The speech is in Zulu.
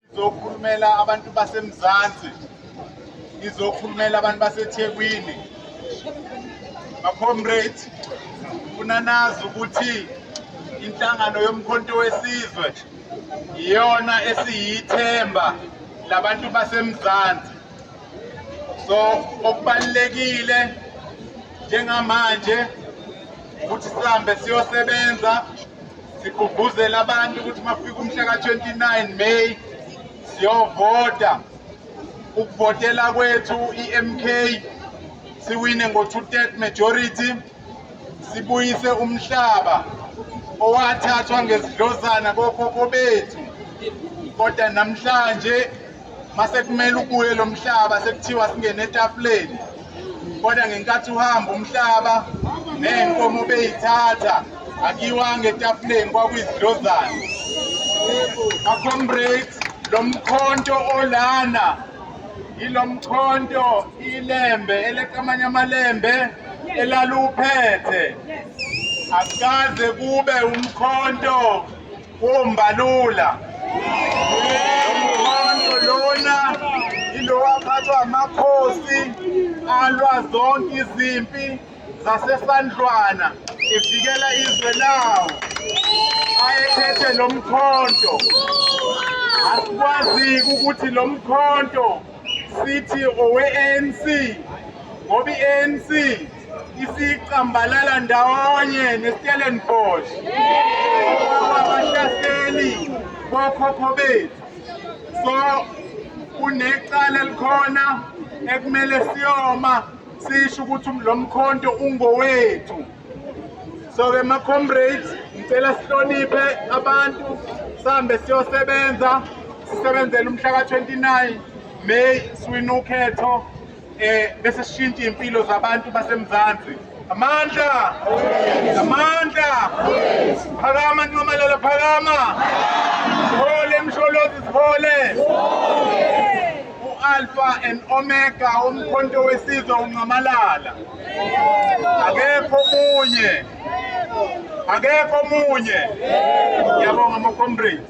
Ngizokhulumela abantu baseMzansi, ngizokhulumela abantu baseThekwini. Macomrade, funa nazi ukuthi inhlangano yomkhonto wesizwe iyona esiyithemba labantu baseMzansi. So okubalekile njengamanje ukuthi sihambe siyosebenza sigqugquzela abantu ukuthi mafika umhla ka-29 May siyovota ukuvotela kwethu i-MK siwine ngo-two-third majority sibuyise umhlaba owathathwa ngezidlozana kokhokho bethu kodwa namhlanje masekumele ubuye lo mhlaba sekuthiwa singene etafuleni kodwa ngenkathi uhamba umhlaba ney'nkomo beyithatha akiwanga etafuleni kwakuyizidlozane acomrade lo mkhonto olana yilo mkhonto ilembe eleqamanye amalembe elaluphethe akukaze kube umkhonto Umbalula umkhonto lona ilowaphathwa amakhosi alwa zonke izimpi zasesandlwana evikela izwe lawo ayephethe lo mkhonto asikwazi ukuthi lo mkhonto sithi owe-anc ngoba i-anc isicambalala ndawonye neStellenbosch abahlaseli bokhokho bethu so kunecala elikhona ekumele siyoma sisho ukuthi lo mkhonto ungowethu so-ke ma-comrades ngicela sihloniphe abantu sihambe siyosebenza sisebenzele umhla ka-29 may siwinukhetho eh bese sishintsha impilo zabantu baseMzansi amandla amandla phakama ntomalala phakama sihole msholozi sihole u-alpha and omega umkhonto wesizwe uncamalala akekho munye akekho munye yabonga ama-comrades